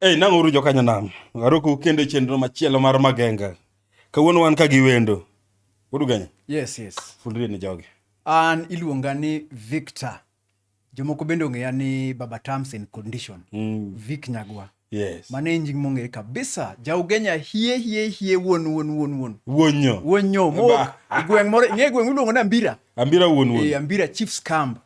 Hey, nang'uru jokanyo nam aroku kendo chenro machielo mar magenga kawuono wan ka gi wendo udugenye yes yes fulrie ni jogi an iluonga ni victor Jomoko bende ong'eya ni Baba Terms and Condition, mm. Vic Nyagwa. Yes. Mano en nying mong'ere kabisa. Jaugenya hie hie hie wuon wuon wuon wuon. Wuonyo. Wuonyo. Mo e gweng' moro ng'e gweng' miluongo ni Ambira. Ambira wuon wuon. Eh, Ambira Chiefs Camp.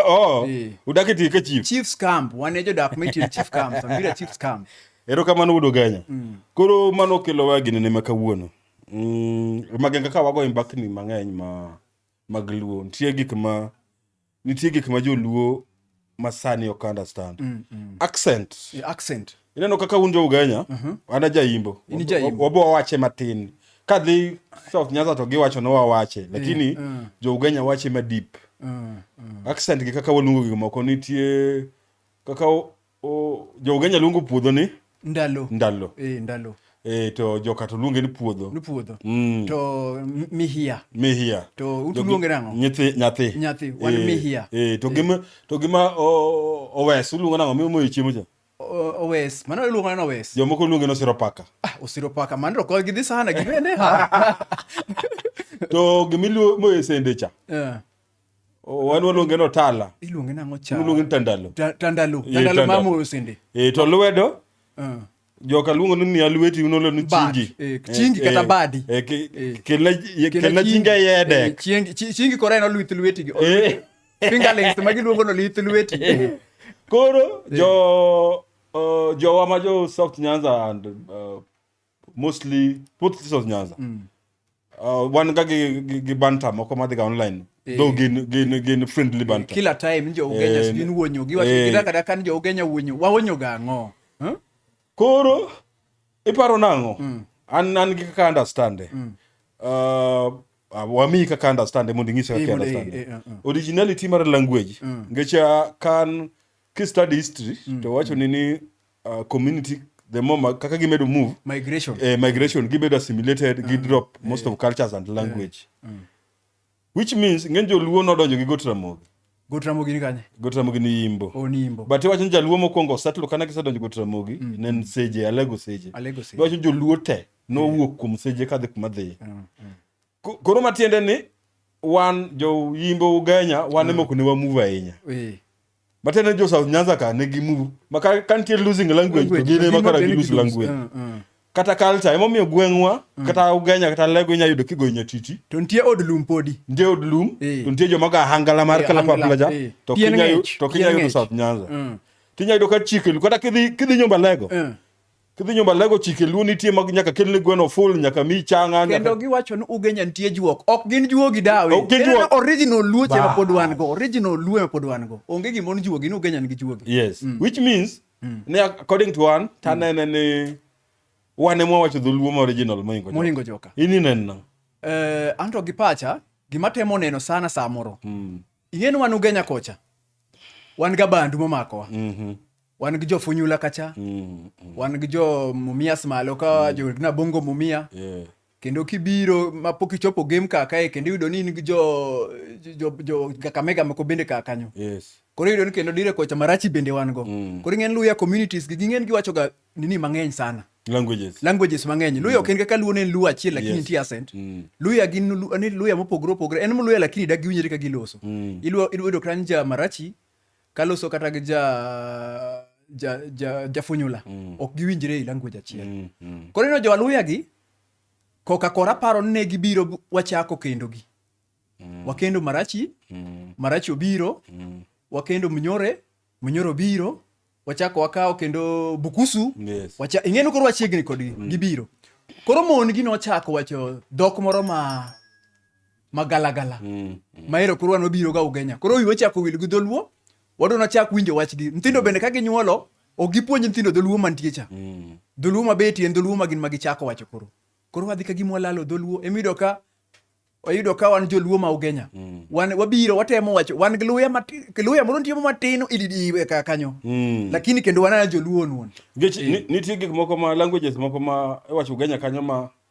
Oh, eh. udak e ka chief. Chiefs Camp. Wan e jodak ma itiyo Chief Camp. Ambira Chiefs Camp. Ero kamano wuod Ogenya. Mm. Koro mano kelowa gini ne ma kawuono. Mm, magenga ka wago mbakni mang'eny ma mag luo. Nitie gik ma nitie gik ma joluo masani ok understand mm, mm. accent yeah, accent ineno kaka un jo ugenya uh mhm. -huh. ana jaimbo wabo wache matin kadhi south nyanza to giwacho no wawache lakini yeah, uh. jo ugenya wache madip uh, uh. accent gi kaka waluongo gik moko nitie kaka O, jo Ugenya luongo puodho ni ndalo ndalo. eh, ndalo E, to joka to luonge ni puodho. ni puodho Mm. to m- mihia Mihia. to utu Jogi- luonge nang'o Nyithi, nyathi. Nyathi, wan Eh, mihia. Eh, to gima, to gima o, owes, uluongo nang'o? Miyo moyo chiemo cha. O- owes mano iluongo neno owes Jomoko luonge ni osiro paka. ah, osiro paka mano to kod gidhi sana gibende ha To gima iluo- moyo e sende cha. Eh, Oh, wan waluonge no tala iluonge nang'o cha waluonge ni tandalo Ta- tandalo Eh, tandalo tandalo. mamoyo sende e to lwedo Ah. joka luongo ni miya lweti uno lwedo Bad. chingi Eh, chingi kata badi. Eh. kelna kelna chingi Eh, ayedek chiengi- chi- chingi kora en olwith lwetigi Eh. fingerlings ma giluongo no lith lweti koro jo uh, jowa ma jo south nyanza and uh, mostly sports sessions nyanza uh, wan ga gi, gi, gi banter moko madhi ga online Eh. though gin, gin, gin friendly banter kila time ni jougenya Eh, sijui ni wuonyo gi eh. gidaka kata ka ni jougenya wuonyo wawonyo ga ang'o Huh? koro iparo nang'o Mm. an an gi kaka understand Mm. uh, wamiyi kaka understand mondo ing'ise Eh, kaka mondo- eh, understand eh, eh, eh. originality mar language Mm. ngecha kan kistudy history to wacho ni ni uh, community the more ma- kaka gimedo move migration eh, migration gibedo assimilated gi drop most of cultures and language which means ng'eny joluo nodonjo gi gotramogi gotramogi ni kanye gotramogi ni yimbo onimbo but iwacho ni jaluo mokwongo osetlo kana gisedonjo gotramogi ne en seje alego seje Alego Seje. iwacho joluo te nowuok kuom seje kadhi kuma dhiye Ko- koro matiende ni wan joyimbo ugenya wan emoko ne wamuve ahinya Eh, matiende jo south nyanza ka ne gimu maka ka nitie losing language to gin ema kara gilose language Ah, ah. kata culture emomiyo gweng'wa kata ugenya kata lego inya yudo kigoyo nyatiti to nitie od lum podi nitie od lum Eh. to nitie joma ga hangala mar Eh, kalapapla hangla, ja eh. to Pien kinya yu- ng'ech, to pien kinya yudo ng'ech. south nyanza Mm. tinya yudo ka chike lu kata kidhi kidhi nyomba lego Eh. Kidhi nyumba lego chike luo nitie mag nyaka kelne gweno full nyaka mi changa nyaka. Kendo giwacho ni ugenya nitie juok. Ok gin juogi dawe. Ok gin juogi. Original luo chema pod wan go. Original luo ma pod wan go. Onge gima on juogi ni ugenya nigi juogi. Yes. Mm. Which means mm. ne according to one tanene mm. ni wan ema wacho dholuo ma original moingo joka. Moingo joka. Ini nenna. Eh, anto gi pacha gima temo neno sana samoro. Mm. Ing'e ni wan ugenya kocha. Wan ga bandu momakowa. Mhm. Mm wan gi jo funyula kacha mm, mm. wan gi jo mumias malo ka mm. jo nabongo mumia yeah. kendo kibiro mapok ichopo game ka kae kendo iyudo ni in gi jo jo jo kakamega moko bende ka kanyo yes. koro iyudo ni kendo dire kocha marachi bende wan go mm. koro ing'en luya communities gi ging'en giwacho ga nini mang'eny sana languages languages mang'eny luya mm. ok en kaka luo ne en luo achiel lakini yes. nitie asent mm. luya gin ni luya mopogore opogore en mluya lakini da giwinjre ka giloso mm. iluo iluo dokran ja marachi Kaloso kata gi ja ja ja jafunyula mm. ok giwinjre e language achiel. Mm, mm. Koro ineno jo-Aluya gi koka kora paro ni ne gibiro wachako kendo gi. Mm. Wakendo Marachi, mm. Marachi obiro, mm. wakendo Mnyore, Mnyore obiro, wachako wakawo kendo Bukusu. Yes. Wacha ing'eno koro wachiegni kodgi mm. gibiro. Koro mon gi nochako wacho dhok moro ma magalagala mm, mm. maero koro wan wabiro ga ugenya koro wi wachako wil gi dholuo wadwa nachak winjo wachgi nyithindo mm. bende ka ginyuolo ok gipuonj nyithindo dholuo mantie cha mm. dholuo mabetie en dholuo magin magichako wacho koro koro wadhi ka gima walalo dholuo emiyudo ka oyudo ka wan joluo ma ugenya mm. wan wabiro watemo wacho wan gi luya matin luya moro nitie matin ididi e ka kanyo mm. lakini kendo wan joluo nuon nikech mm. nitie gik moko ma languages moko ma iwacho ugenya kanyo ma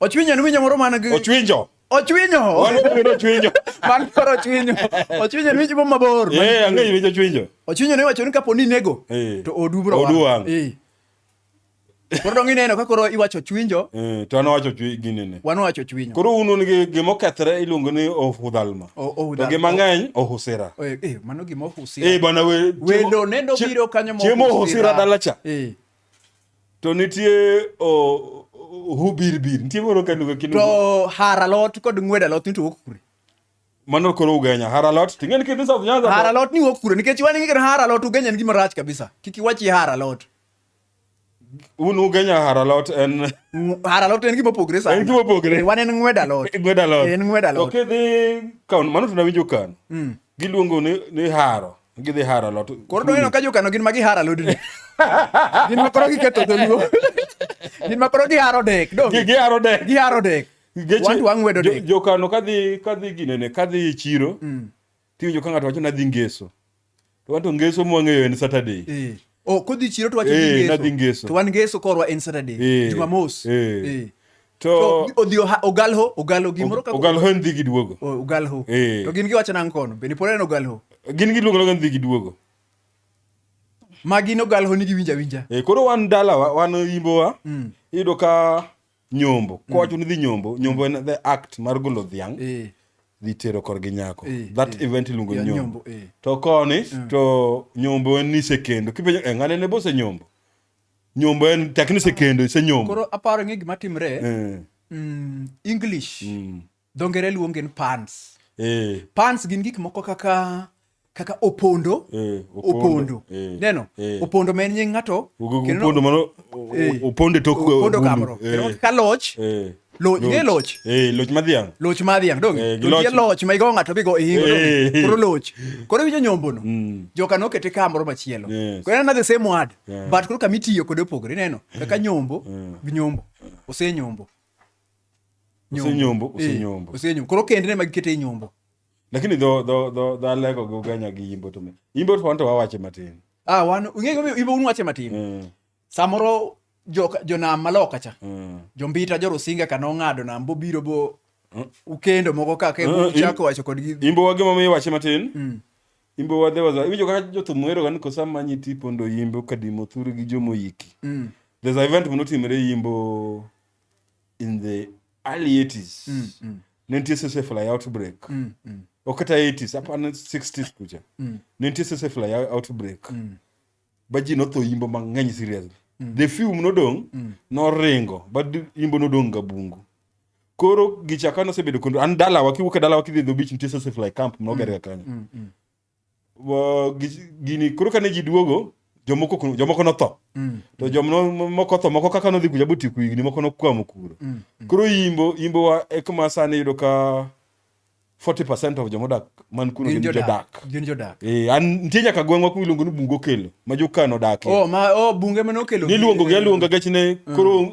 Ochwinyo en winyo moro man gi Ochwinjo. Ochwinyo. Oluongo ochwinyo. Man koro ochwinyo. Ochwinyo en winyo moro mabor. Eh, ang'eyo winyo ochwinyo. Ochwinyo ne wacho ni kapo ni inego eh. to odu bro. Odu wang'. Eh. Koro dong ineno ka koro iwacho ochwinjo. Eh, to an wacho ginene. Wan wacho ochwinyo. Koro un un gi gima okethre iluongo ni ohudhalma. To gi mang'eny ohusira. Eh, eh mano gima ohusira. Eh, bana we. Welo nendo biro kanyo mo. Chiemo ohusira dalacha. Eh. to nitie ohubirbir nitie moro kanuga kinu to haralot kod ng'wedo alot ni to wuok kure mano koro ugenya haralot to ing'eni kidhi south nyanza haralot ni wuok kure nikech wan ing'eni haralot ugenya en gima rach kabisa kik iwachi haralot un ugenya haralot en haralot en gima opogre sana en gima opogre eh, wan en ng'wedo alot ng'wedo alot eh, en ng'wedo alot to kidhi kan mano tunawinjo kan mm. giluongo ni, ni haro Gidhi haro alot. Koro doneno ka jokano gin ma giharo alodni. Gin ma koro giketho dholuo. Gin ma koro giharo dek. Dong. Giharo dek. Giharo dek. Wantu wang'wedo dek. Jokano kadhi kadhi ginene kadhi e chiro. Mm. Tiwinjo ka ng'ato wacho nadhi ngeso. To wanto ngeso mwang'eyo en Saturday. Eh. Oh, kodhi chiro to wacho eh, ni nadhi ngeso. To wan ngeso korwa en Saturday, eh, Jumamos. Eh. eh. To odhi ogalho, ogalho gimoro kaka ogalho en dhi gi duogo. Oh, ogalho. Eh. To gin giwacho nang' kono, be ni pore en ogalho. Gin giluongo logan dhi gi duogo. Magi no galho ni giwinja winja. Eh, koro wan dalawa, wan yimbowa. Mm. Iyudo ka nyombo mm. kowacho ni dhi nyombo nyombo en the act mar golo dhiang' eh. dhi tero korgi nyako eh, that eh. event iluongo ni nyombo to koni mm. to nyombo en ni sekendo kipenjo eh, ng'ane ne bose nyombo nyombo en takni sekendo isenyombo koro aparo ng'e gima timre mm, english dho ngere luonge ni pants eh. pants gin gik moko kaka kaka opondo eh, opondo eh, neno eh. opondo ma en nying ng'ato opondo mano eh. opondo tok eh, opondo kamoro eh. ka loch eh. Loch, loch. loch. Eh, loch madhiang. Loch madhiang dong. Eh, loch. loch ma igo ng'ato bigo ihingo. Eh. Koro loch. Koro winjo nyombo no. Mm. Joka no kete kamoro machielo. Yes. Koro na the same word. Yeah. But koro kamitiyo kode opogore neno. Kaka nyombo, eh. nyombo. Ose nyombo. osenyombo osenyombo eh, osenyombo koro kend ne magikete e nyombo lakini dho dho dho dho alego go ganya gi yimbo to yimbo to wanto wawache matin ah wan ung'e go yimbo un wache matin mm. samoro jo jo nam maloka cha mm. jo mbita jo rusinga kano ngado nam bo biro bo mm. ukendo moko kaka e mm. chako wacho kod gi yimbo wage mamiyo wache matin mm. yimbo wadhe wazo iwinjo kaka jo thum wero gan ko sama nyi tipo ndo yimbo kadimo thuru gi jo moyiki mm. there's a event monotimre yimbo in the early 80s mm, mm. nentie sese fly outbreak mm, mm. okata 80s apana 60s kucha mm. nentie sese fly outbreak mm. ba ji notho yimbo mang'eny seriously mm. the few nodong mm. noringo ba yimbo nodong ga bungu koro gichaka nosebedo kondo an dalawa kiwuok e dalawa kidhi dho bich nitie sese fly camp mnogerga mm, kanyo mm, mm. gini koro kane ji duogo jomoko jomoko notho mm. to jomoko tho moko kaka nodhi kuja boti ku higni moko nokwamo kuro mm, mm. koro yimbo yimbo wa e kuma sani yudo ka 40 percent of jomodak man kuno gin jodak gin jodak eh an nitie nyaka gweng'wa ku iluongo ni bungo kelo ma jokano odakie oh ma oh bunge mane okelo niluongo gi aluonga gachne mm. koro mm.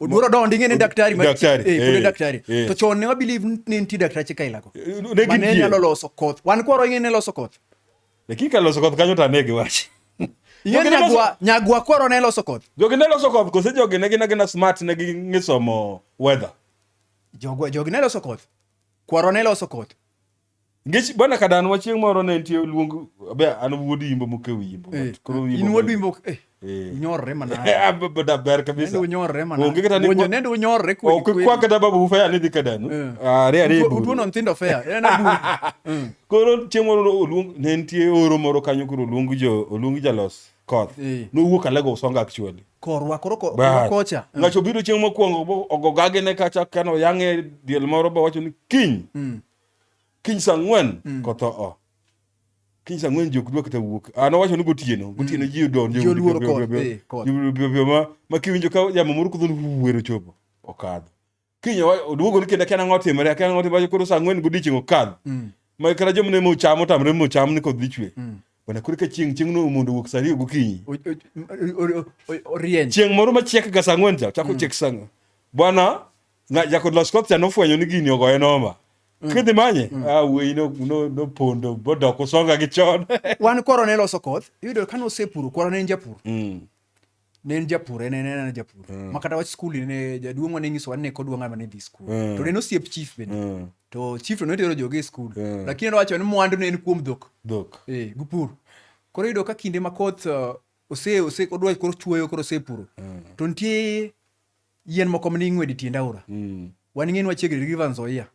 Odwaro donjo ing'e ni daktari ma daktari eh, eh, daktari eh. to chon ne wa believe ni nitie daktache ka ilako eh, ne gin ne nyalo loso koth wan kwaro ing'e ne loso koth lakini ka loso koth kanyo to ane giwach ing'e nyagwa nyagwa kwaro ne loso koth jogi ne loso koth kose jogi ne gin agina smart ne ging'e somo weather jogi ne loso koth kwaro ne loso koth Ngech bwana kadan wa chieng moro ne nitie luong be an wuod yimbo mukew yimbo. Eh, koro yimbo. In wuod yimbo. Eh. eh. Nyorre mana. Ah, da ber kabisa. Nende nyorre mana. Onge kata ni. Onge nende nyorre kwe. Ok kwa kata babu fea ni dhi kadan. Eh. Ah, re re. Uduo non tindo fea. En abu. Koro chieng moro luong ne nitie oro moro kanyo koro luong jo luong jalos koth. No wuok alego songa actually. korwa koro kocha ngacho biro chieng mokwongo ogogage ne kacha kano yange diel moro bo wacho ni kiny mm. kiny saa ang'wen mm. kotho o kiny saa ang'wen jok dwa kata wuok an ah, owacho ni gotieno mm. gotieno ji odonjo ma kiwinjo ka yamo moro kudho wuwero chopo okadho kiny oduogo ni kendo akiana ng'o timore akiana ng'o timore koro saa ang'wen godiechieng' okadho mm. ma kata joma ne mocham otamre mocham ni kodhi chwe bana koro ka chieng' chieng' no mondo wuok saa ariyo gokinyi chieng' moro machiek ga saa ang'wen cha chako chiek saa bwana Nga- Jakod Los Kotsia nofwenyo ni gini ogoye noma. Kidhi manye, ah, wuoyi no- no- nopondo, bodok usonga gi chon. wan koro ne loso koth iyudo ka nosepuro koro ne en japur Mm. ne en japur en en en japur ma kata wach skul ne jaduong'wa ne nyisowa ni ne kodwa ng'ama ne dhi skul Mm. to ne en osiep chief bende Mm. to chief to notero joge e skul Mm. lakini nowacho ni mwandu ne en kuom dhok Dhok. eh, gi pur koro iyudo ka kinde ma koth uh, ose ose odwa koro chuoyo koro osepuro to nitie yien moko mane ing'wedo e tiend aora mm. wan ing'e ni wachiegni River Nzoia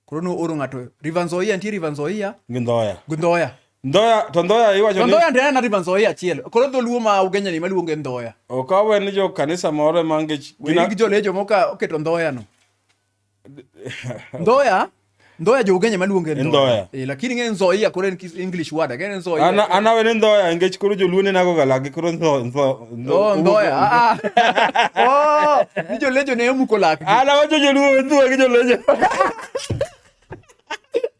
koro nooro ng'ato River Nzoia nitie River Nzoia gi Ndhoya gi Ndhoya Ndoya to Ndoya iwacho ni Ndoya ndoya na ribanzo ya chiel. Koro dholuo ma ugenya ni maluonge Ndoya. Okawe ni jo kanisa moro e mange gina gi jolejo moka oketo Ndoya no. Ndoya Ndoya jougenya maluonge Ndoya. Eh, lakini ng'e Nzoia koro en English word ake en Nzoia. Ana ana wene Ndoya engech koro joluone nago galagi koro Nzo Nzo. Oh Ndoya. Ah. ah. Oh, ni jolejo ne omuko lak. Ana wacho joluo Nzoia gi jolejo.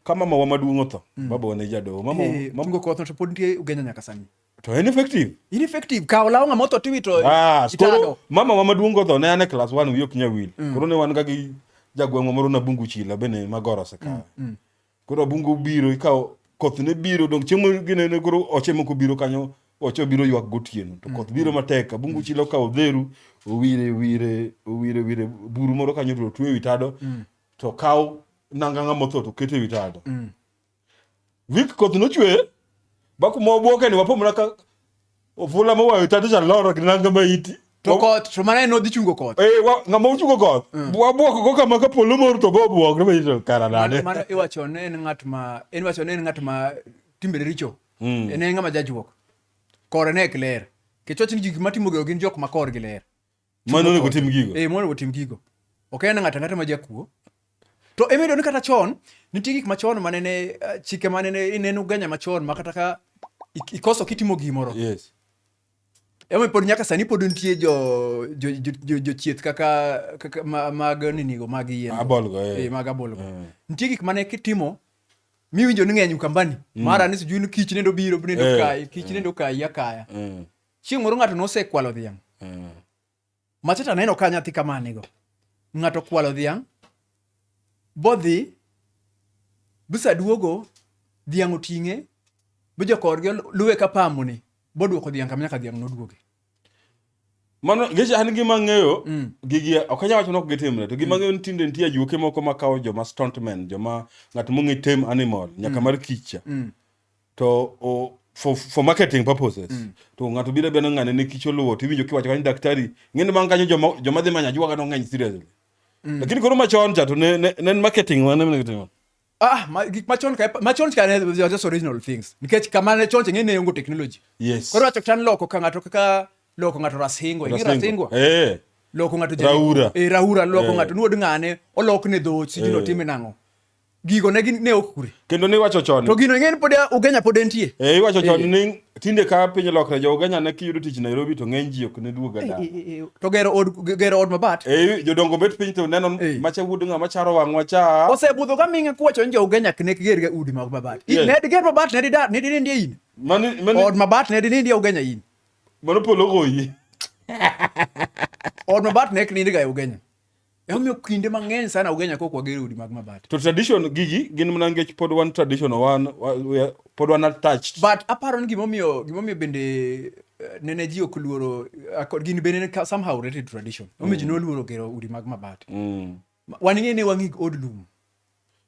Kama mawa maduong' otho, mm. baba wane jadoho. Mama, hey, eh, mama. Tungo kotho to pod nitie ugenya nyaka sani. to en effective in effective kawo law ng'ama otho tiwito ah, koro mama wa maduong' godho ne an e class one wiye ok nya wil mm. koro ne wan ga gi jagweng'wa moro na bungu chila be ne magoro osekawe mm, mm. koro bungu biro ikawo koth ne biro dong chiemo gine ne koro oche moko biro kanyo oche biro ywak gotieno to koth biro matek abungu chila okawo odheru owire wire owire wire buru moro kanyo to otwe wi tado to kawo nanga ng'ama otho to kete wi tado Wik koth nochwe ba kuma obuoke ni wapo mana ka ofula mowayo tado cha loro gi nanga ma iti. To koth to mana en odhi chungo koth. Eh wa ngama ochungo koth. Mm. Wabuok go kama ka polo mor to go buok ni to kara nade. Mano iwacho ne en ngat ma en wacho ne en ngat ma timbe richo. Mm. En ngama jajuok. Kore ne kler. Kechoch ni gik matimo gin jok ma korgi ler. mane onego tim gigo eh mane otim gigo ok en ng'ata ng'ata ma jakuo to emedo ni kata chon nitie gik machon mane ne eh, chike mane ne ineno ganya machon ma kata ka ikoso kitimo gimoro yes Ema pod nyaka sani pod nitie jo jo jo jo chieth kaka kaka mag ninigo mag yien. Abolgo eh. eh mag abolgo. Eh. Nitie gik mane kitimo miwinjo ni ng'eny kambani. Mm. Mara ni sijui ni kich nendo biro nendo eh. kai, kich nendo kai ya kaya. Chieng' moro ng'ato nosekwalo dhiang'. Mm. Machata aneno ka nyathi kama nigo. Ng'ato kwalo dhiang', bodhi, bisa duogo, dhiang' oting'e, bijokorgi luwe ka pamoni, boduoko dhiang' kama nyaka dhiang' noduoge. Mano geche an gima ng'eyo mm. gigi ok anyal wacho ni ok gitimre to gima mm. ng'eyo ni tinde nitie ajuoke moko makawo joma stuntmen joma ng'at mong'e tem animal nyaka mm. mar kicha. Mm. to o, for, for marketing purposes mm. to ng'ato biro beno ng'ane ne kich oluwo to iwinjo kiwacho kanyo daktari ng'eni bang' kanyo joma, joma dhi manya juwaga nong'eny seriously mm. lakini koro machon cha to ne, ne, ne marketing wane mene kitimo Ah, ma, gik machon ka machon ka ne just original things. Nikech kama ne chon ng'e ne yongo technology. Yes. Koro wacho tan loko ka ng'ato kaka loko ng'ato rasingo, ng'e rasingo. Eh. Loko ng'ato jeni. Raura. Eh, raura loko eh. ng'ato nuod ng'ane, olok ne dhochi, eh. jino time nang'o. gigo ne gin ne ok kure kendo ne iwacho chon to gino ing'eni pod ugenya pod entie eh iwacho chon eh. ni tinde ka piny lokre jo ugenya ne kiyudo tich Nairobi to ng'eny ji ok ne duoga eh, da eh, to gero od gero od mabat eh jodongo bet piny to neno macha wuod ng'a macharo wang'wa cha osebudho ka ming'e kuwacho ni jo ugenya ne kiger ga udi mag mabat ne diger mabat ne didar ne dinindie in mani mani od mabat ne dinindie ugenya in mano polo goyi od mabat ne kinindie ga ugenya Emomiyo kinde mang'eny sana ugenya kok wagero udi mag mabati. To tradition gigi gin mana nikech pod wan traditional wan pod wan attached. But aparo ni gimomiyo gimomiyo bende eh, nene ji ok luoro eh, kod gin bende ka- somehow related to tradition. Omiyo ji noluoro gero udi mag mabati. Mm. Ma- Wan ing'e ne wang'i od lum.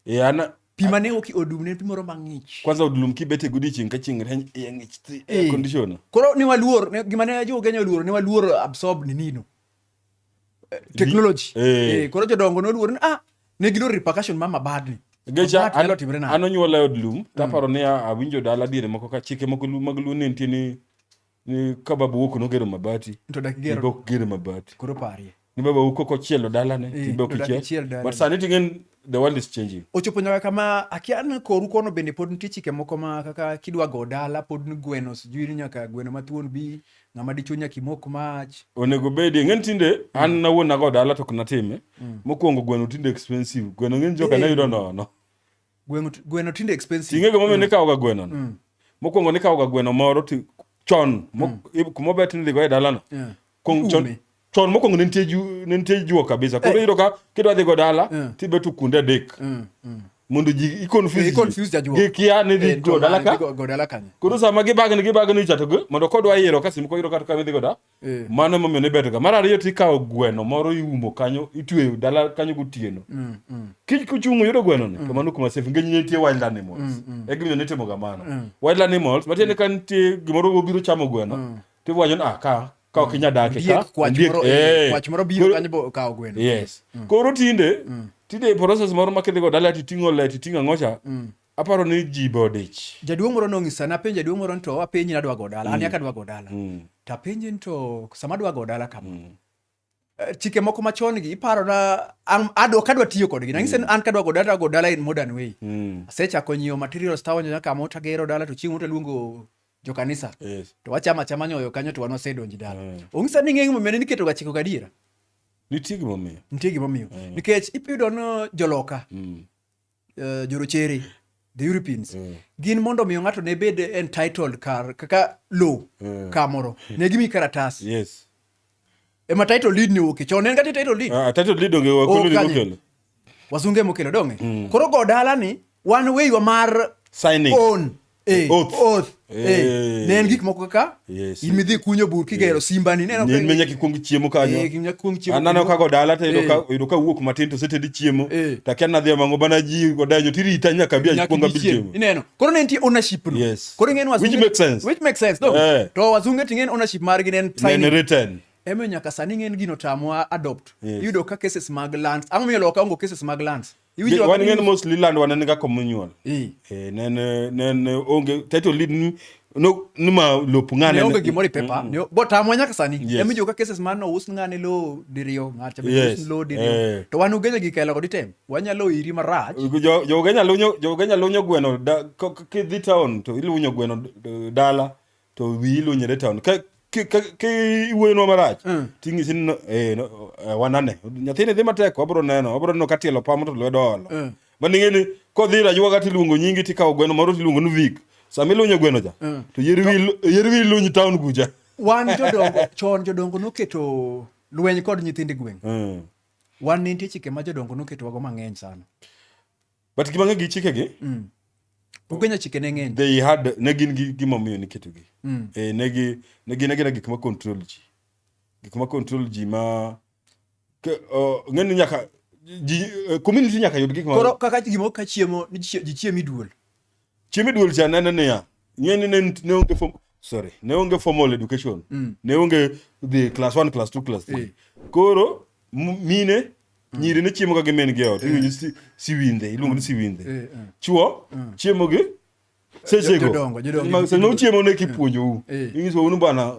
Eh, ana Pi mane oki od lum ne en pi moro mang'ich. kwanza od lum kibet e godiechieng' ka chieng' rieny iye ng'ich thi air Eh. conditioner. Koro ne waluor ne- gima ne jo Kenya oluoro ne waluor absorb ninino. eh, technology eh. eh koro jodongo noluor ni ah ne gilo repercussion mama badni gecha an onyuola e od lum mm. taparo ni awinjo dala diere moko ka chike moko mag luo ne nitie ni ni ka baba wuok nogero mabati to dak gero bok gero mabati koro parie ni baba wuok koko chielo dala ne eh, tibok chiel but sani tingen the world is changing ochopo nyaka kama akian koru kono bende pod nitie chike moko ma kaka kidwa go dala pod ni gweno sijui ni nyaka gweno mathuon bi ng'ama dichuo nyaka imok mach onego bedi ng'eni tinde mm. an nawuon nago dala to ok natime mm. mokwongo gweno tinde expensive gweno ng'eni joka nayudo nono gweno tinde expensive ing'ego momiyo mm. nikawoga gweno no mokwongo nikawoga gweno moro chon kumobet nidhigo e dalano chon mokwongo ne nitie ju- ne nitie juo kabisa koro iyudo ka kidwa dhi go dala Eh. tibeto kuonde adek Mm, mm. mondo ji Eh, i-confuse confuse jajuo. ji gikia ni dhi Eh, go dala ka go- go dala kanye? koro sama gibagni gibagni cha to gi- mondo kodwa yiero ka sim koyudo kata kamidhi goda Eh. mano emomiyo nibetoga mar ariyo tikawo gweno moro iumo kanyo itweyo dala kanyo gotieno Mm, mm. kich kuchung' yudo gwenoni to mano kuma safe ngeny nitie wild animals e gimiyo nitimoga mano wild animals matiende ka nitie gimoro obiro chamo gweno tiwacho ni ah ka ka ok inya dake ka kwach moro biro kanyo bo kawo gweno yes mm. koro tinde mm. tinde process moro ma kidhigo dala titing'o le titing'o ang'ocha mm. aparo ni ji be odich jaduong' moro nong'isa napenjo jaduong' moro nto apenji nadwa go dala an yaka dwa go dala tapenji nto sama adwa go dala kama Eh, chike moko machon gi iparona adwa kadwa tiyo kodgi nang'ise mm. an kadwa go dala go dala in modern way mm. asechako nyiewo materials tawanyo nyaka mo tagero dala to chieng' to luongo jo kanisa yes. to wachama chama nyoyo kanyo to wan wasedonji dala mm. ong'isa ni ng'eng' momiyo ne niketo ga chiko gadiera nitie gimomiyo nitie gimomiyo mm. nikech ipiyudo no joloka mm. uh, jorochere the Europeans mm. gin mondo omiyo ng'ato ne bed entitled kar kaka low mm. kamoro hmm. ne gimi karatas yes ema title lead ni wuoke chon en kati title lead ah, title lead onge wa kolo mokelo wasunge mokelo donge mm. koro go dala ni wan weyiwa mar signing own Eh, Oath. oath. Eh, Eh. ne en gik moko kaka Yes. in midhi kunyo bur kigero simbani ne en menya kikwong chiemo kanyo anano kago dala to yudo ka- yudo ka wuok matin to setedi chiemo Eh. to akia nadhi amango bana ji odanyo tirita nyaka bi akwong abi chiemo ineno koro ne nitie ownership no Yes. koro ing'en wazunge- Which makes sense. which makes sense no Eh. to wazunge ting'en ownership margi ne en Nene signing. written emiyo nyaka sani ng'en gino tamwa adopt Yes. iyudo ka cases mag lands ang'o miyo loka ongo cases mag lands Iwinjo wan ng'en mos liland wan en ga communal eh nen nen onge title lead no nima lop ng'ane onge gimoro pepa mm. bo tamwa nyaka sani yes. emijo ka cases man no us ng'ane lo diriyo ng'acha be yes. us lo diriyo eh. to wan ugenya gi kelo kodi tem wanyalo iri marach jo jo ugenya lunyo jo ugenya lunyo gweno da kidhi town to ilunyo gweno dala to wiyi luny e town ka iwuoyonwa marach mm. ting'isi ni eh, eh, wanane nyathini dhi matek wabro neno wabro neno ka tielo pamo to lwedo olo mm. maning'e ni kodhi rajwa kata iluongo nyingi tikawo gweno moro tiluongo ni vik sama ilunyo gweno cha mm. to yer wiyi luny town kucha wan jodongo chon jodongo noketo lweny kod nyithind gweng' wan ne nitie chike ma jodongo noketowago mang'eny sana but gima ng'e gi chikegi mm. Ugenya chike ne ng'eny. They had ne gin gi gima omiyo niketogi. Mm. Eh, ne gi ne gin agina gik ma control ji. Gik ma control ji ma ke, uh, ng'eni nyaka ji uh, community nyaka yud gik ma Koro kaka gimo ka chiemo ji chiemi duol. Chiemi duol cha nene niya. Ng'eni ne ne onge form sorry, ne onge formal education. Mm. Ne onge the class 1, class 2, class 3. Eh. Koro mine mm. nyiri ne chiemo ga gi men gi ot. Eh. Iwinjo si siwinde, iluongo ni mm. siwinde. Eh, eh. Chuo mm. chiemo gi sechego. Jodongo, jodongo. Sechego chiemo ne kipuonjo u. Eh. Inyiso unu bana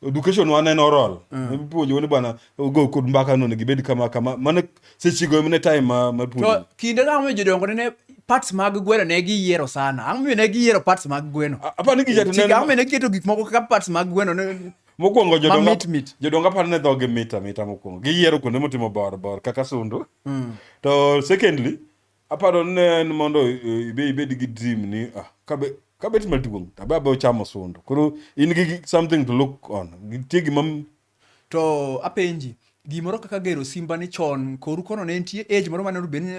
education wa ne oral mm. ipuonjo wani bwana go kod mbaka no nigi bed kama kama mane seche go mane time ma ma puonjo to kinde ka mo jodongo ne parts mag gweno ne gi yiero sana ang mi ne gi yiero parts mag gweno apa ni gijato ne ang mi ne keto gik moko kaka parts mag gweno ne mokwongo jodongo jodongo aparo ne dhoge mita mita mokwongo giyiero kuonde motimo bor bor kaka sundu mm. to secondly Aparo ni ne en mondo ibe ibed gi dream ni ah, kabe kabet maduong' tabe abe ochamo sundo. Koro in gi gi- something to look on. Nitie gima To apenji, gimoro kaka gero simba ni chon koru kono ne nitie age moro mane obed ni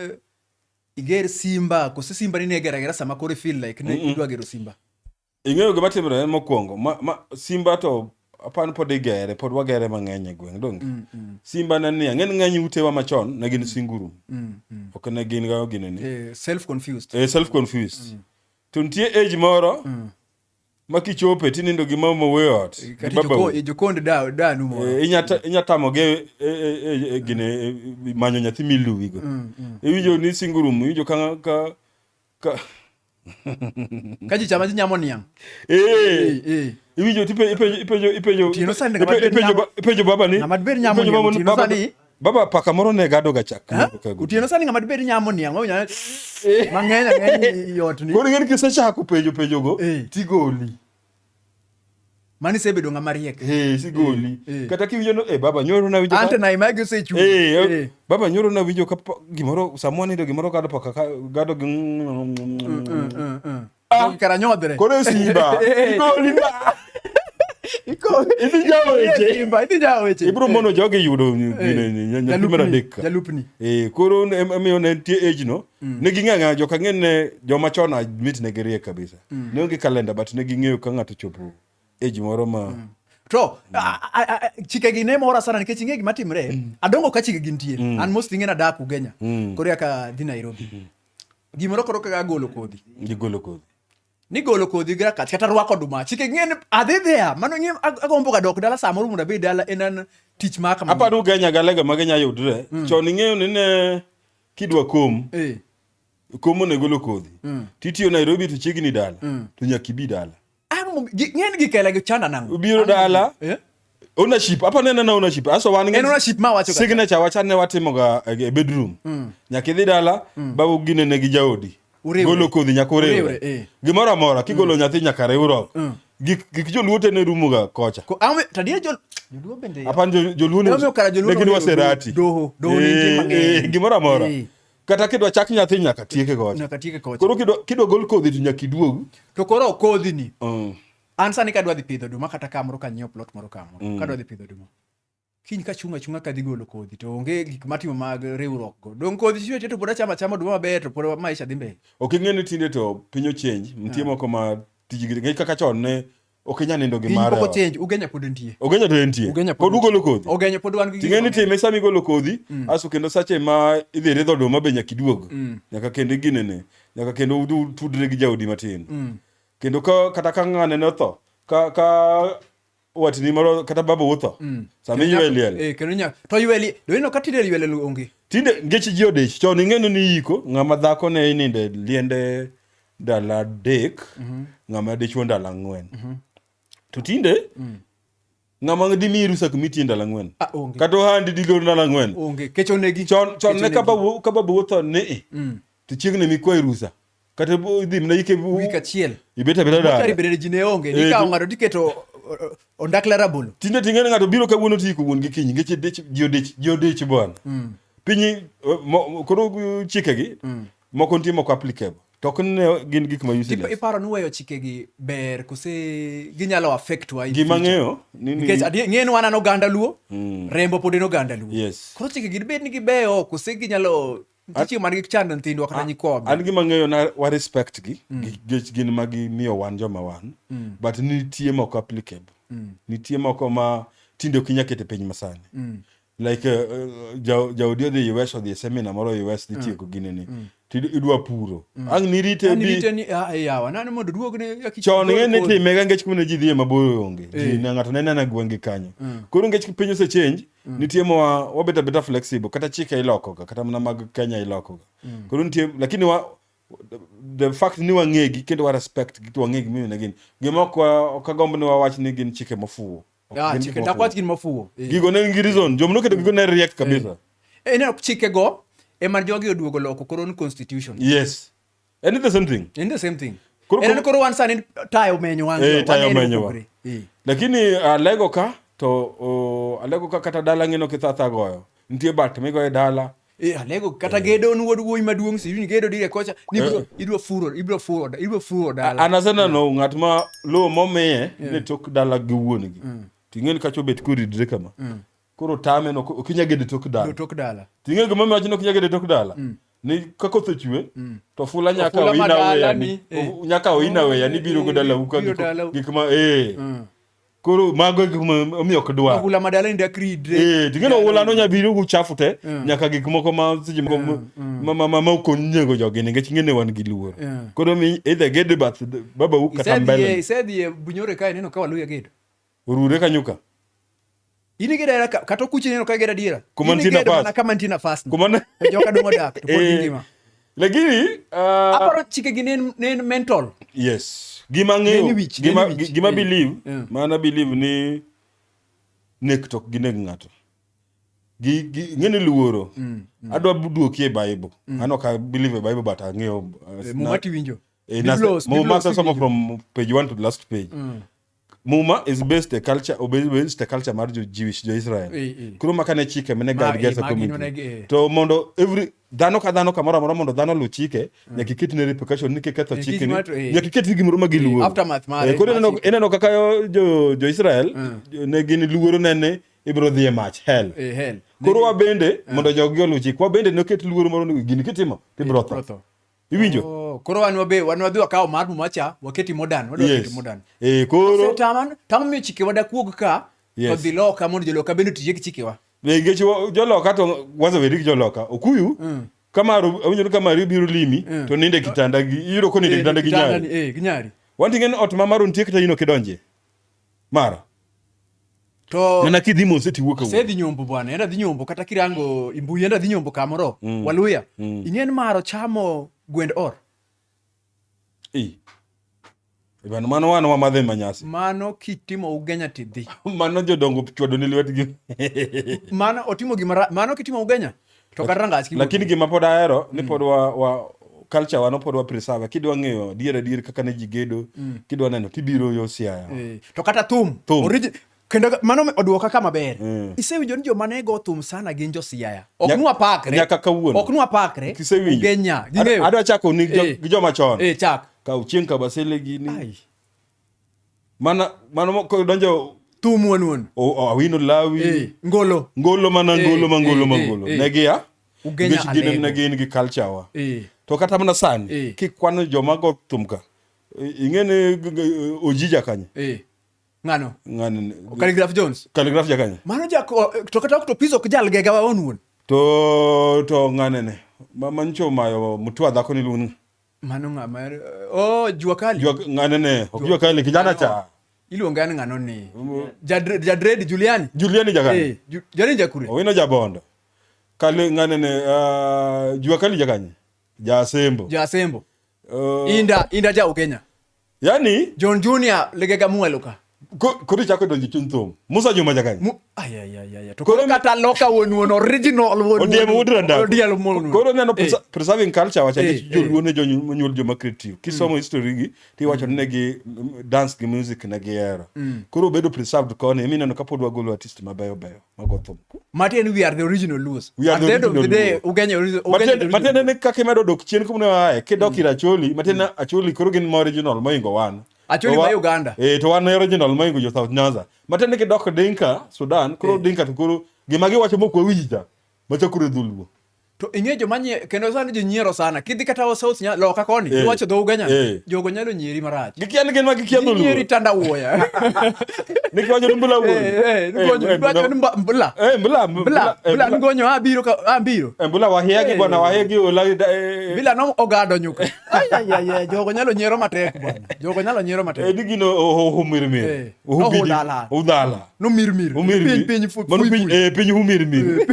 iger simba kose simba ni ne igera gera sama koro i feel like ne idwa gero simba? Ing'eyo gima timre mokwongo, ma, ma Simba to apan pod igere, pod wagere mang'eny e gweng' donge. Mm, mm. Simba ne ni ang'en ng'eny utewa machon ne gin singuru. Mm, mm. Ok ne gin ga gine ni. Eh, self confused. Eh, self confused. Mm. To nitie age moro mm. ma kichope tinindo gi mama we ot. Eh, kati joko e jokond da da nu moro. Eh, inyata inyata moge e, e, e, gine e, manyo nyathi miluwi go. Mm, mm. Iwinjo ni singuru mu iwinjo ka ka, ka ka ji chama ji nyamo niang' eh. eh, iwinjo to ipenjo baba ni baba paka moro ne gado ga chak otieno sani ng'ama dibed nyamo niang' mang'eny ang'eny yot ni koro ing'eni kisechako penjo penjogo tigoli Mani sebedo ng'ama riek. Eh, sigoli. Eh, eh. Kata kiwinjo no, eh, baba nyoro na winjo. Ante na imagi osechu. Eh, eh, eh, baba nyoro na winjo ka gimoro samwa nindo gimoro kado paka gado gi. Mm, mm, mm, ah, kara nyodre. Kore simba. Sigoli na. ibiro mono jogi yudo nyalupni adek eh, koro emiyo ne nitie age no ne ging'ang'a jokang'e ne joma chon mit ne giriek kabisa mm. ne onge kalenda but ne ging'eyo ka ng'ato chopo age moro ma mm. to chikegi ne mora sana nikech ing'e gima timre mm. adongo ka chikegi nitie mm. an most ing'e nadak ugenya mm. koro yaka dhi nairobi mm. gimoro koro kaka golo kodhi gigolo kodhi nigolo kodhi gi rakach kata rwako oduma chike ng'e ni adhi dhia mano ng'e agombo ga dok dala samoro mondo abed dala en an tich ma kama aparo ugenya galega magenya yudre mm. chon ing'eyo ni ne kidwa kom eh. komo ne golo kodhi mm. titiyo Nairobi to chiegni dala mm. to nyaka ibi dala ng'eny gi kela gi chanda nango ubiro dala eh? ownership apa nene na ownership aso wan ng'eny ownership ma wacho signature wacha ne watimo ga eh, e bedroom mm. nyaka idhi dala mm. babu gine ne gi jaodi golo kodhi nyaka uriwre eh. gimoro amora kigolo mm. nyathi nyaka riwruok mm. gik joluo te ne rumo ga kocha tadiye jol joluo bende apan joluo ne gin waserati doho doho ne eh, eh, gimoro amora kata kidwa chak nyathi nyaka tieke kocha nyaka tieke kocha koro kidwa kidwa gol kodhi to nyaka iduog to koro kodhi ni mm. an sani kadwa dhi pidho duma kata kamoro ka nyiewo plot moro kamoro mm. kadwa dhi pidho duma kiny ka chunga chunga kadhi golo kodhi to onge gik matimo mag riwruok go dong kodhi chiwe to pod achama chama duma maber to pod maisha dhi mbele ok ing'e ni tinde to piny ochenj nitie yeah. moko ma tijgi ng'e kaka chon ne Ok inyal nindo gi Piny mara. pok ochenj, Ugenya pod entie. Ogenya to entie. Ugenya pod Pod ugolo kodhi. Ogenya pod wan gi Ting'e ni gik time sama igolo kodhi, aso kendo sache ma idhi ridho oduma be nyaka iduog. Nyaka kendo iginene. Nyaka kendo udu- utudre gi jaodi matin. Kendo ka kata ka ng'ane ne otho, ka ka watni moro kata babu utho. Sama iywe liel. Eh, kendo nyaka to ywe liel. Do ino ka tinde ywe liel onge. Tinde ngeche ji odich. Chon ing'eno ni iyiko ng'ama dhako ne ininde liende ndalo adek mm-hmm. ng'ama dichuo ndalo ang'wen mm-hmm. to tinde mm. ng'ama dimi rusak mitie ndalo ang'wen ah, kata ohandi dilor ndalo ang'wen chon ne kaba botho ni mm. to chiegni mikwayi rusa kata idhi mna ike wik achiel ibet abeta dala bende ji ne onge ni kawo ng'ato tiketo ondakla rabolo tinde ting'e ng'ato biro kawuono ti ko wuon gi kiny ngeche dech ji odech ji odech bwana mm. piny koro chikegi mm. Moko nitie moko applicable. To ok ne gin gik ma useless. Tipo iparo ni weyo chikegi ber kose ginyalo affect wa. Gima ng'eyo ni ni nikech adier ng'eyo ni wan an oganda Luo, mm. rembo pod en oganda Luo. Yes. Koro chikegi dibed ni gibeyo kose ginyalo nitie man gi chando nyithindwa kata nyikwawa. An gima ng'eyo na wa respect gi mm. nikech gin ma gimiyo wan joma wan mm. but nitie moko applicable. Mm. Nitie moko ma tinde ok inyal keto e piny masani. Mm. like uh, uh, ja- jaodi odhi us odhi e seminar moro us nitieko mm. ginini mm. to id- idwa puro mm. ang' nirite An rite bi ni ah, eh, yawa nani mondo duogne ya kichwa chon ng'e ni kodhi. timega ngech kumene ji dhiye mabor onge ji Eh. na ng'ato nene na gwenge kanyo koro ngech piny ose change nitie ma wa- wabet abeta flexible kata chike ilokoga kata mana mag kenya ilokoga koro nitie lakini wa the fact ni wang'egi kendo wa respect gi to wang'egi mimi na gin gima ok wa- ok agomb ni wawach ni gin chike mofuwo Ah, Gin gik chike- dak mofuwo. wach gin mofuwo Eh. gigo ne nigi reason joma noketo gigo ne riek kabisa Eh, ineno chikego ema jogi oduogo loko koro ni constitution yes and it's the same thing in the same thing Koro- en koro wan sani tayo menyo wangi Eh, tayo waneno menyo wa. opogore. Eh. lakini alego ka to o, alego ka kata dala ng'ino kithatha goyo nitie bat migoye dala Eh, alego kata gedo ni wuod wuoyi maduong' si gedo dire kocha ni bro idwa furo ibro furo ibro furo dala an aseneno ng'at ma lowo momiye ne tok dala gi wuon-gi to ing'eni kacha obet koridre kama koro tame no ok inya gede tok dala tok dala to ing'eni gima miwacho ni ok inya gede tok dala ni ka koth ochwe to fula nyaka Ofula ma oina weya dalani, ni eh. o- nyaka oina weya ni biro go dala uka Biro dala- gik ma eh koro mago e gik ma- omiyo ok dwar Ohula ma dalani dak ridre. Eh, to kendo ohulano nya biro gi uchafu te Mm. nyaka gik moko ma seche moko Mm, mm. ma- ma- ma- ma ok onego jogi nikech ing'e ni wan gi luor Mm. koro mi either gede bath babau kata Isedhiye mbele isedhiye bunyore kae neno ka waluya gedo. orure kanyo ka in igera era kata okuchi neno ka igera diera kuma nitie nafas mana kama nitie nafas kuma na e joka dongo dak to pod eh, ngima lakini uh, aparo chike gi nen nen mental yes gima ng'eyo gima gima eh, believe yeah. mana believe ni nek tok gi nek ng'ato gi gi ng'ene luoro mm, mm. adwa duoki e bible mm. ano ka believe e bible but ang'eyo uh, eh, mumati winjo eh, mumasa somo from page 1 to the last page mm. muma is based a culture obe- based a culture mar jo jewish jo israel Eh, eh. koro maka ne chike mene Ma- guide gesa eh, ma gin community oneg- eh. to mondo every dhano ka dhano kamoro amora mondo dhano luw chike nyaka iket ne repercussion ni kiketho Eh, chike ni kichmato, eh. nyaka iket ni gimoro ma giluoro aftermath mare, Eh, koro ineno- machike. ineno kaka yo- jo jo israel ne gin luoro nene ibiro dhi e mach hell Eh, hell. koro wabende mondo jogi oluw chik wabende noket luoro moro ni gini kitimo to ibiro Ibiro tho tho. Iwinjo? Oh, koro wan wabe wan wadhi wakawo mar muma cha waketi modern wadwa yes. keti modern. Eh koro taman tamo mi chike wada kuog ka yes. kodhi loka mondo joloka bende tije gi chikewa. Be ngeche joloka to wazo wedik joloka okuyu mm. kama awinjo ni kama biro limi mm. to ninde kitanda gi iyudo ko ninde eh, kitanda gi nyari. Eh, gi nyari. Wanti ngen ot ma maro nitie kata ino kidonje. mara to mana kidhi mose tiwuok awuok asedhi nyombo bwana enda dhi nyombo kata kirango imbuyi enda dhi nyombo kamoro mm. waluya mm. ing'en maro chamo gwend or e Ibano mano wan wamadhe manyasi. Mano kitimo ugenya tidhi. mano jodongo chwado ni lwetgi. mano otimo gima mano kitimo ugenya. to kata rangas lakini gima pod ahero ni mm. pod wa, wa culture wano pod wa preserve kidwa ng'eyo dier adier kaka ne ji gedo mm. kidwa neno tibiro yo siaya eh, to kata thum thum kendo mano oduoka ka maber mm. isewinjo ni joma ne go thum sana gin jo siaya ok nwa pakre nyaka kawuono ok nwa pakre kisewinjo genya adwa chako ni eh. gi joma chon eh chak ka uchieng kabasele gini mana mano moko donjo thum wuon wuon o- o- awino lawi Eh, ngolo ngolo mana Eh, ngolo ma ngolo eh, ma eh, ngolo eh. ne gia Ugenya nikech gin Alego. ne gin gi culture wa Eh, to kata mana sani Eh. kikwano joma go thum ka eh, ing'e ni g- g- ojija kanye eh. ng'ano ng'ani Calligraph jones kaligraf ja kanye mano jak o- to kata ok to pis ok jal gega waon wuon to to ng'ane ne ma mancho mayo mutwa dhako ni luong Mano ng'a ma oh jua kali. Jua ng'ane ne, ok jua kali kijana cha. Iluonge an ng'ano ni. Jadred Juliani. Juliani jagani. Eh, Juliani jakure. Owino jabondo. Kali ng'ane ne uh, jua kali jagani. Jasembo. Jasembo. Uh, inda inda ja Ugenya. yani John Junior legega mwalo ka koro ichako donjo chuny thum musa juma jakany koro kata loka wonuon original wodiemo wod randakodiel mon koro neno eh. preserving culture wacha eh, eh. joluo ne jonyuol joma creative kisomo mm. history gi tiwacho mm. ne gi mm, dance gi music ne gihero mm. koro obedo preserved koni mi neno kapod wagolo artist mabeyo beyo matiende we are the original Luos. We are the original Luos. Ugenya original. Matiende matiende ne kaka imedo dok chien kuma ne aye kidok mm. ir Acholi matiende mm. Acholi koro gin ma original moingo wan. Acholi ma Uganda. Eh to wan original moingo jo South Nyanza. Matiende kidok Dinka Sudan koro eh. Dinka to koro gima giwacho mok wawinja machakore dholuo. to ing'e joma nye kendo sani ji nyiero sana kidhi kata o south nya loka koni eh. iwacho dhow ganya eh. jogo nyalo nyieri marach gikia ni gin ma gikia dholuo nyieri tanda wuoya nikiwacho ni mbula wuoyi eh, nikiwacho ni mbula mbula mbula mbula ngonyo abiro abiro mbula wahia gi bwana wahia gi ola bila no ogado nyuka ayayaya jogo nyalo nyiero matek bwana jogo nyalo nyiero matek edi gino ohumirmir ohudala No mir mir. Humir Piny mi. piny fu- Mano fui piny fui. eh, piny humir mi.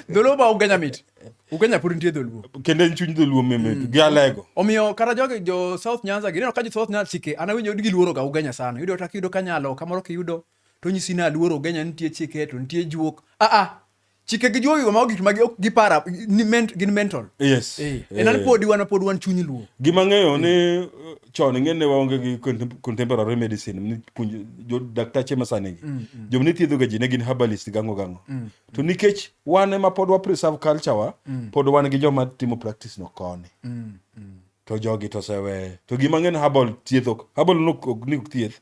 Dholuo ba Ugenya mit. Ugenya pod nitie dholuo. Kendo en chuny dholuo meme gi alego. Omiyo kata jogi jo South Nyanza gi ineno ka jo South Nyanza chike an awinjo ni giluoro ga Ugenya sana. Yudo kata kiyudo kanyalo kamoro kiyudo to nyisi ni aluoro Ugenya nitie chike to nitie juok. Ah ah chike gi jowi ma gik ma ok gipara ni ment gin mental yes eh en eh. pod wan pod wan chuny luo gima ng'eyo ni uh, chon ng'ene waonge gi contemporary medicine ni puonj jo daktache masani gi mm, mm. jom ni thiedho gaji ne gin herbalist gango gango mm, to nikech wan ema pod wa preserve culture wa pod wan gi joma timo practice no koni to jogi to sewe to gima ng'en herbal thiedho herbal no ni thieth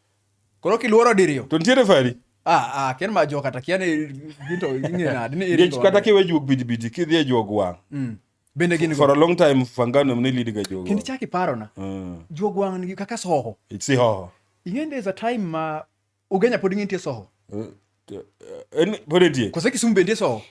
Koro kiluoro diriyo. To nitiere fari. Ah, ah, ken ma jo kata kia ni ginto ing'e nadi ni iringo. Nikech kata kiwe juog bidibidi kidhi e juog wang'. Mm. Bende gin go. For a long time fangano ne lead ga juog. Kendo chaki paro na. Mm. Juog wang' nigi kaka soho. It's hoho. Ing'e there's a time ma ugenya pod ng'intie soho. Mm. Eh, eh, pod etie kose kisumu bende isowo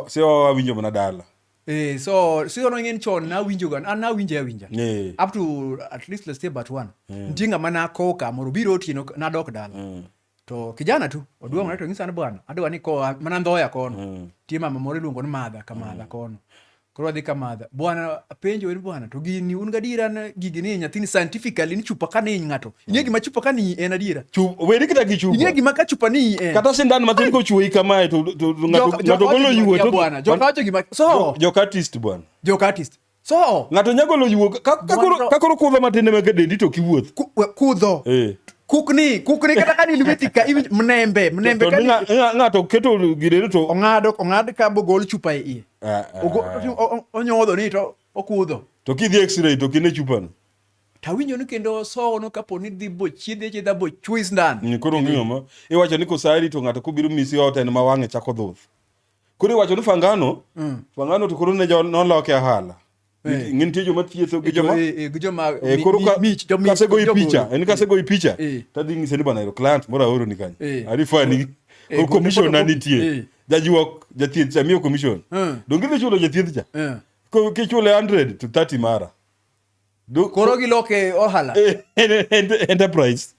sihoho awinjo mana dala Eh, so sihono ing'en chon nawinjoga an nawinje awinja Eh. up to at least let's say but one nitie ng'ama nakowo ka mondo obiro otieno nadok dala Mm. to kijana tu oduong'ore to ng'isa ni bwana adwa ni koa mana ndhoya kono nitie mama moro iluongo ni madha ka madha kono Koro wadhi ka madha. Bwana penjo ni bwana to gini un gadiera na gigi ni nyathini scientifically ni chupa ka ni ng'ato. Ing'e gima chupa ka ni en adiera. Chupa weri kita gi chupa. Ing'e gima ka chupa ni en. Kata sindan matin ko chuoi kamae to to ng'ato ng'ato golo yuwe to bwana. Joka wacho gima so. Joka artist bwana. Joka artist. So. Ng'ato nyagolo yuwe ka koro ka koro kudho matin ma kedendi to kiwuoth. Kudho. Eh. kukni kukni kata ka ni lweti ka mnembe mnembe ka ng'ato keto girere to ong'ado ong'ad ka bogol chupa e iye Ah, ah. Ogo- otim- o- o- onyodho ni to okudho To kidhi x-ray to kine chupano. tawinjo ni kendo osowono kapo ni dhi bochiedhi achiedha bochwis ndani Mm, Koro onge ng'ama. Iwacho ni kosari to ng'ato kobiro misi ot en ma wang'e chako dhuth. Koro iwacho ni fangano, fangano to koro ne jo- noloke ahala. Eh. ng'e nitie joma thietho gi eh, joma eh, eh joma eh, koro ka mich joma kase goyi picha en kase goyi picha tadhi ng'ise ni bana ero client moro aoro ni kanyo arifa ni o commission na nitie jajuok jathieth cha miyo commission donge idhi chulo jathieth cha ko kichule 100 to 30 mara koro giloke ohala enterprise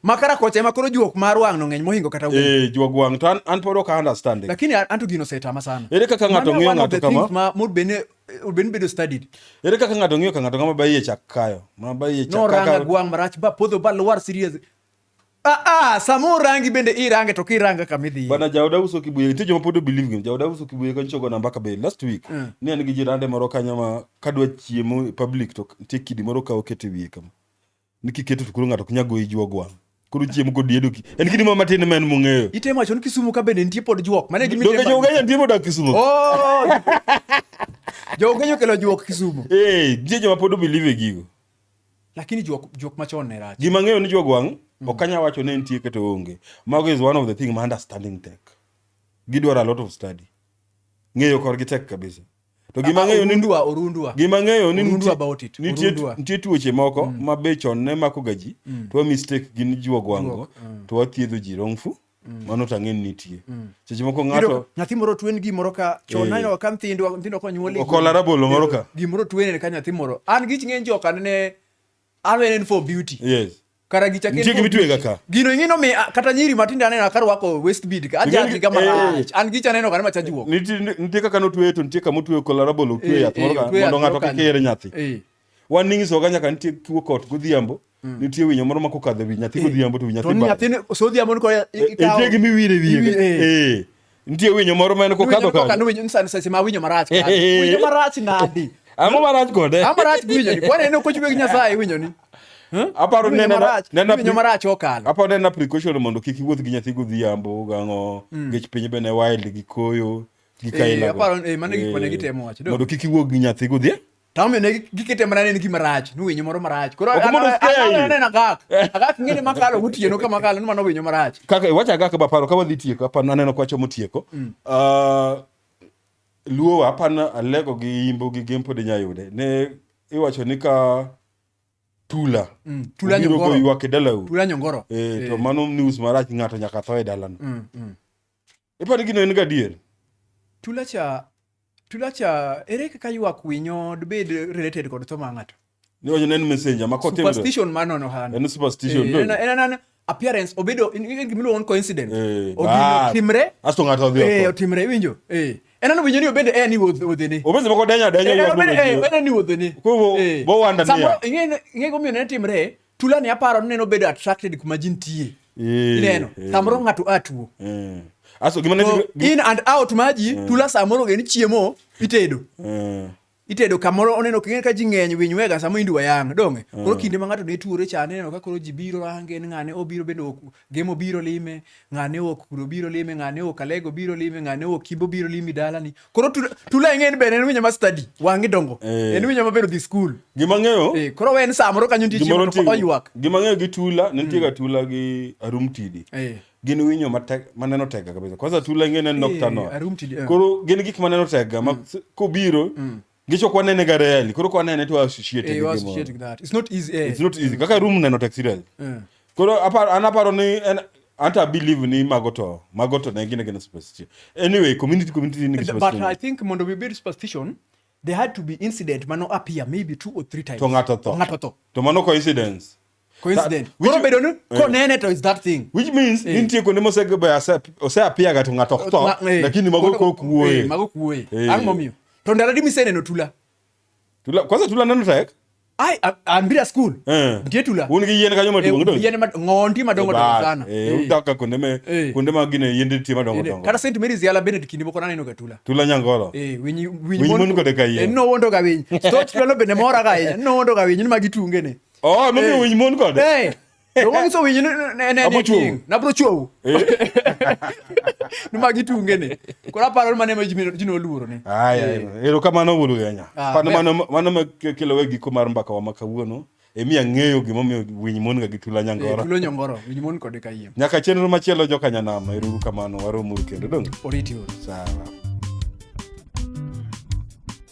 makara kocha ema koro juok mar wang' no ng'eny mohingo kata wuoyi eh juok wang' to an, an pod ok understand lakini an to gino setama sana ere kaka ng'ato ng'iyo ng'ato kama ma mod bene ben bedo studied ere kaka ng'ato ng'iyo ka ng'ato kama bayi e chak kayo ma bayi e chak no ranga gwang' marach ba podho ba lwar serious Ah, ah, samo rangi bende irange to kiranga kama idhi. Bana jaoda uso kibuye nitie joma pod believe him. Jaoda uso kibuye kan chogo namba ka be last week. Mm. Ne an gi jirande moro kanyo ma kadwa chiemo public to nitie kidi moro ka okete wiye kama. ni kiketo to koro ng'ato ok nyal goyi juog wang' koro chiemo kod diedo ki en kidi moro matin ma en mong'eyo Itemo wacho ni Kisumu ka bende nitie pod juok. Mane gimi donge jougenya nitie modak kisumo Oh! Jougenya okelo juok Kisumu. ee nitie joma pod obelieve e gigo Lakini juok juok machon ne rach. gima ng'eyo ni juog wang' ok anyal wacho ni nitie kata onge mago is one of the thing ma understanding tek gidwaro a lot of study ng'eyo korgi tek kabisa to gima ng'eyo ni orundwa orundwa gima ng'eyo ni orundwa about it nitie nitie tuoche moko mm. ma be chon ne mako ga ji mm. to mistake gin juogo wango mm. to wathiedho ji wrongful mm. mano to ang'e nitie mm. seche moko ng'ato nyathi moro twen gi moro ka chon eh. nanyo ka nyithindo nyithindo konyuol okola rabolo moro ka gimoro twen ka nyathi moro an gich ng'eny joka ne Awenen for beauty. Yes. Kara gicha ken. Jigi mitwe gaka. Gino ingino me kata nyiri matinde aneno akar wako west bead ka aja giga mara. An gicha neno kana machaji woko. Niti nitie kaka notwe to nitie kama otwe kolarabol otwe eh, yath moro ka eh, mondo ng'ato kik ere nyathi. Eh. Wan ning'iso ga nyaka nitie kiwo kot godhiambo. Mm. nitie winyo moro ma kokadho wi nyathi godhiambo to wi nyathi nyathi sodhiambo ni ko ikawo nitie gimi wire wiye Nitie winyo moro ma en kokadho kanyo. Winyo ni sani sese ma winyo marach. Winyo marach nadi. Amo marach kode. Amo marach winyo ni. Kwani ne kochwe gi Nyasaye winyo ni. Aparo ne na na winyo marach okalo. Aparo ne na precaution mondo kik iwuoth gi nyathi godhiambo gang'o. Mm. Gech piny bene wild gi koyo. Gi kaila. Eh, aparo eh mano gik ma ne eh, gitemo wacho. Mondo kik iwuog gi nyathi godhiambo. to omiyo ne gikete mana ne en gima rach ni winyo moro marach koro Ok mondo uskei. aneno agak agak ng'e ni makalo gotieno ka makalo ni mano winyo marach kaka iwacho aga ka baparo ka wadhi tieko apa naneno ka wachomo tieko Ah, luo wa apa na alego gi imbo gi gempo de nyayude ne iwacho ni ka tula Mm, tula obiro nyongoro. goywak e dalau tula nyongoro eh, to mano news marach ng'ato nyaka tho e dalano Mm, mm. Ipo ni gino en gadier. Tulacha Tulacha ere kaka ywak winyo dibed related kod tho ma ng'ato? Ni wacho en messenger ma kote. Superstition ma nono hano. En superstition. Eh, en en en appearance obedo in in gimilo on coincident. Eh, Ogino timre. Asto ng'ato odhi. Eh, otimre winjo. Eh. En ano winyo ni obende en ni wodhi ni. Obende moko denya denya. Eh, obende eh, en ni wodhi ni. Ko bo wanda ni. Samo ing'e ing'e gomiyo ne timre. Tula ni aparo neno bedo attracted kuma ji nitie. Eh, Ineno, eh. samoro ng'ato a tuo. Eh. Aso gima So, ne in and out ma ji, tula samoro gin chiemo itedo. Eh. Itedo kamoro oneno king'e ka ji ng'eny winy wega sama indwa yang' dong'e. Koro kinde ma ng'ato ne tuore cha aneno ka koro ji biro range en ng'ane obiro bende ok- Gemo biro lime, ng'ane ok kuro biro lime, ng'ane ok alego biro lime, ng'ane ok kibo biro limi dalani. Koro tula ing'e ni bende en winyo ma study, wang'i dongo. Eh. En winyo maber odhi skul. Gima ng'eyo. Eh, koro en saa moro kanyo nitie chiemo to oywak. Gima ng'eyo gi tula, ne nitie ga mm. tula gi arum tidi. Eh. Gin winyo maneno tega kabisa. Kwanza tula ing'e ne nocturnal. Koro gin gik maneno tega ma mm. kobiro mm. Ngicho kwa nene ga rarely. Koro kwa nene to associate Eh, gi you gimoro. associate with that. It's not easy. Eh. It's not easy. Kaka room neno taxi rarely. Eh. Koro aparo an aparo ni en anta believe ni mago to mago to ne gine gine superstition. Anyway, community community ni But I superstition. think mondo we build superstition, there had to be incident mano appear maybe two or three times. To ng'ato tho. Ng'ato tho. To mano coincidence. koro bedo ni eh. konene to is that thing which means eh. nitie kuonde mosegebe oseapia ga to ng'ato ok tho eh. lakini mago kok wuoye mago kok wuoye ang' momiyo to ndalo di miseneno tula tula kwanza tula neno tek ai ambira school nitie tula un gi yien kanyo maduong' do yien ng'ondi madongo dongo sana udaka kuonde me kuonde ma gine yien nitie madongo dongo kata St Mary's yala bende kinde moko naneno ga tula tula nyangolo eh winyi winyi mon kode ka yien no wondo ga winyi stoch lolo bende mora ga yien no wondo ga winyi ni magi tunge ne Oh, mimi hey. winyi mon kode. Hey. To wong so winyi ne ne ne king. Na bro chuo. Ni magi tunge ne. Kora paro mane ma jimi jino luro ne. Ai ai. Ero kama no wulu yanya. Ah, Pano mano mano ma kelo wegi ko mar mbaka wa makawuono. Emi ang'eyo gima omiyo winy mon ga gi tula nyangoro. Tula nyangoro, winy mon kode kayiem. Nyaka chenro machielo joka nyanama, ero kamano waromo kendo dong. Oriti. Sawa.